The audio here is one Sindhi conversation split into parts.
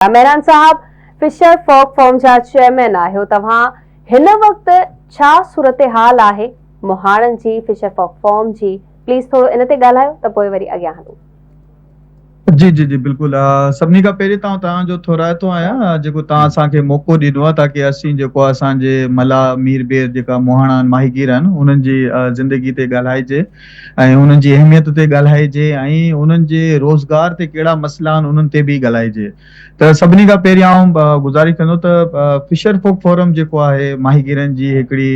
مهراڻ صاحب فشر فوڪ فورم جا چيئرمين آهيو توهان هن وقت ڇا صورتحال آهي مهاڻن جي فشر فوڪ فورم جي پليز ٿورو ان تي ڳالهايو ته پوء وري اڳيان هلون. جي جي جي بلڪل سڀني کان پهرين تان تان جو ٿورائتو آهيان جيڪو تان اسان کي موقعو ڏنو آهي تاڪي اسين جيڪو اسان جي ملاح مير بير جيڪا مهاڻا آهن ماهيگير آهن انهن جي زندگي تي ڳالهائجي ۽ انهن جي اهميت تي ڳالهائجي ۽ انهن جي روزگار تي ڪهڙا مسئلا آهن انهن تي به ڳالهائجي ته سڀني کان پهرين آئون گذارش ڪندو ته فشر فوڪ فورم جيڪو آهي ماهيگيرن جي هڪڙي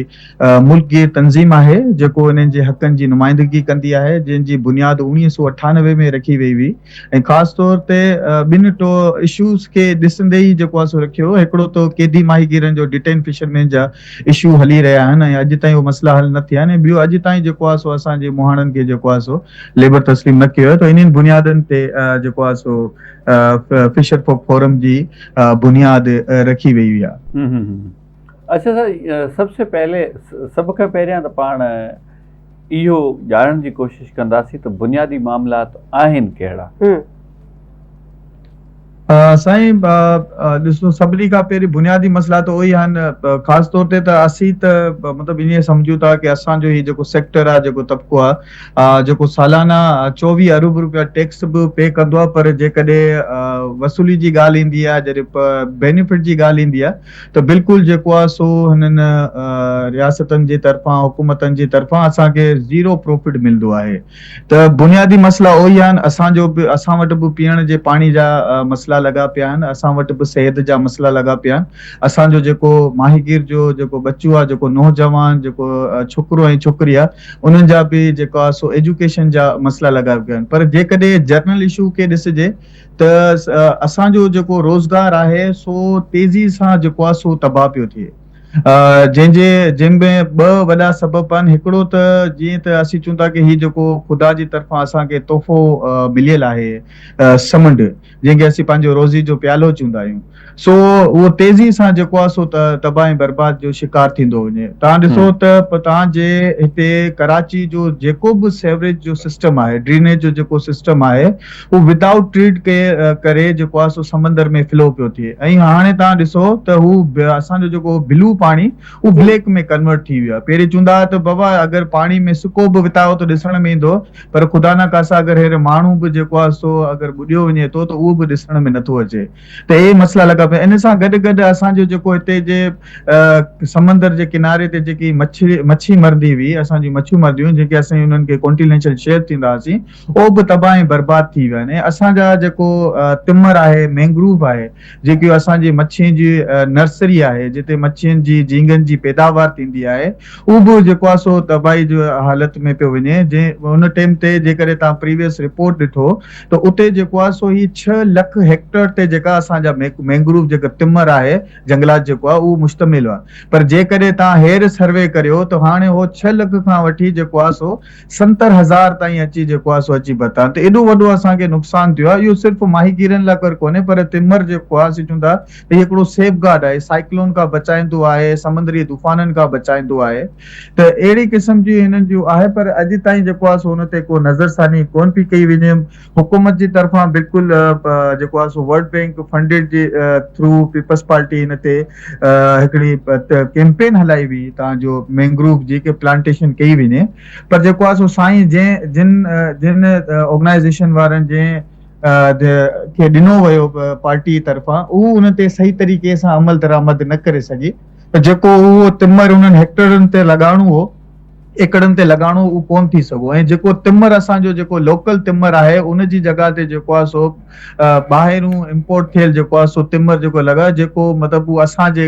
ملڪ گير تنظيم آهي جيڪو انهن جي حقن جي نمائندگي ڪندي آهي جنهن جي بنياد اوڻيهه سؤ اٺانوي ۾ رکي وئي هئي ۽ خاص طور تي ٻن ٽو اشوز کي ڏسندي ئي جيڪو آ سو رکيو هڪڙو ته قيدي ماهيگيرن جو ڊٽين فشرمين جا اشو هلي رهيا آهن ۽ اڄ تائين اهي مسئلا حل نه ٿيا آهن ۽ ٻيو اڄ تائين جيڪو آ سو اسان جي مهاڻن کي جيڪو آ سو ليبر تسليم نه ڪيو آهي ته انهن بنيادن تي جيڪو آ سو فشر فوڪ فورم جي بنياد رکي وئي هئي آ. اچا سر سب سي پهلي سڀ کان پهريان ته پاڻ اهو ڄاڻڻ جي ڪوشش ڪنداسين ته بنيادي معاملات آهن ڪهڙا؟ سائين ڏسو سڀني کان پهرين بنيادي مسئلا ته اهي ئي آهن خاص طور تي ته اسين ته مطلب ائين سمجهون ٿا ڪي اسان جو هي جيڪو سيڪٽر آهي جيڪو طبقو آهي جيڪو سالانه چوويهه ارب روپيا ٽيڪس به پي ڪندو آهي پر جيڪڏهن وصولي جي ڳالهه ايندي آهي جڏهن بينيفٽ جي ڳالهه ايندي آهي ته بلڪل جيڪو آهي سو هنن رياستن جي طرفان حڪومتن جي طرفان اسان کي زيرو پروفٽ ملندو آهي ته بنيادي مسئلا اهو ئي آهن اسان جو به اسان وٽ به پيئڻ جي پاڻي جا مسئلا لڳا پيا آهن اسان وٽ به صحت جا مسئلا لڳا پيا آهن اسان جو جيڪو ماهيگير جو جيڪو ٻچو آهي جيڪو نوجوان جيڪو ڇوڪرو ۽ ڇوڪري آهي انهن جا به جيڪو آهي سو ايجوڪيشن جا مسئلا لڳا پيا آهن پر جيڪڏهن جنرل اشو کي ڏسجي ته اسان جو جيڪو روزگار آهي سو تيزي سان جيڪو آهي سو تباهه پيو ٿئي جنهن جي جن ۾ ٻه وڏا سبب آهن هڪڙو ته جيئن ته اسين چون ٿا ڪه هي جيڪو خدا جي طرفان اسان کي تحفو مليل آهي سمنڊ جنهن کي اسين پنهنجو روزي جو پيالو چوندا آهيون سو اهو تيزي سان جيڪو آهي سو تباهه ۽ برباد جو شڪار ٿيندو وڃي. توهان ڏسو ته توهان جي هتي ڪراچي جو جيڪو به سيوريج جو سسٽم آهي، ڊرينيج جو جيڪو سسٽم آهي، اهو ودائوٽ ٽريٽ ڪئي ڪري جيڪو آهي سو سمندر ۾ فلو پيو ٿئي ۽ هاڻي توهان ڏسو ته هو اسان جو جيڪو بلو پاڻي اهو بليڪ ۾ ڪنورٽ ٿي ويو آهي. پهرين چوندا هئا ته بابا اگر پاڻي ۾ سڪو به وتايو ته ڏسڻ ۾ ايندو پر خدا نخاسا اگر هينئر ماڻهو به جيڪو آهي سو اگر ٻڏيو وڃي ٿو ته اهو به ڏسڻ ۾ نٿو اچي. ته اهي مسئلا لڳا پيا ان سان گڏ گڏ اسان جو جيڪو هتي جي سمندر جي ڪناري تي جيڪي مڇي مڇي مرندي هئي اسان جون مڇيون مرنديون هيون جيڪي اسين انهن کي ڪونٽينيشل شيف ٿيندا هئاسين اهو به تباهه ۽ برباد ٿي ويا آهن ۽ اسان جا جيڪو تمر آهي مينگروف آهي جيڪي اسان جي مڇين جي نرسري آهي جتي مڇين جي جهينگن جي پيداوار ٿيندي آهي اهو به جيڪو آهي سو تباهي جي حالت ۾ پيو وڃي جي ان ٽيم تي جيڪڏهن توهان پريويس رپورٽ ڏٺو ته اتي جيڪو آهي سو هي ڇهه لک هيڪٽر تي جيڪا اسان جا مينگروف جيڪا تمر آهي جنگلات جيڪو آهي اهو مشتمل هئا پر جيڪڏهن توهان هير سروي ڪريو ته هاڻي اهو ڇهه لک کان وٺي جيڪو آهي سو ستر هزار تائين اچي جيڪو آهي سو اچي پهتا ته ايڏو وڏو اسان کي نقصان ٿيو آهي اهو صرف ماهيگيرن لاء ڪر ڪونهي پر تمر جيڪو آهي سي چون ٿا هي هڪڙو سيف گارڊ آهي، سائيڪلون کان بچائيندو آهي، سمنڊري طوفانن کان بچائيندو آهي ته اهڙي قسم جي هنن جون آهي پر اڄ تائين جيڪو آهي سو ان تي ڪو نظر ثاني ڪونه پئي ڪئي وڃي حڪومت جي طرفان بلڪل جيڪو آهي سو ورلڊ بينڪ فنڊيڊ جي ٿرو پيپلز پارٽي ان تي هڪڙي ڪيمپين هلائي وئي تان جو مينگروف جي ڪي پلانٽيشن ڪئي وڃي پر جيڪو آهي سو سائين جنهن جن جن آرگنائيزيشن وارن جنهن کي ڏنو ويو پارٽي طرفان اهو ان تي صحيح طريقي سان عمل درآمد نه ڪري سگهي ته جيڪو اهو تمر انهن هيڪٽرن تي لڳائڻو هو ايڪڙن تي لڳائڻو اهو ڪونه ٿي سگهو ۽ جيڪو تمر اسان جو جيڪو لوڪل تمر آهي ان جي جڳهه تي جيڪو آهي سو ٻاهرون امپورٽ ٿيل جيڪو آهي سو تمر جيڪو لڳا جيڪو مطلب اسان جي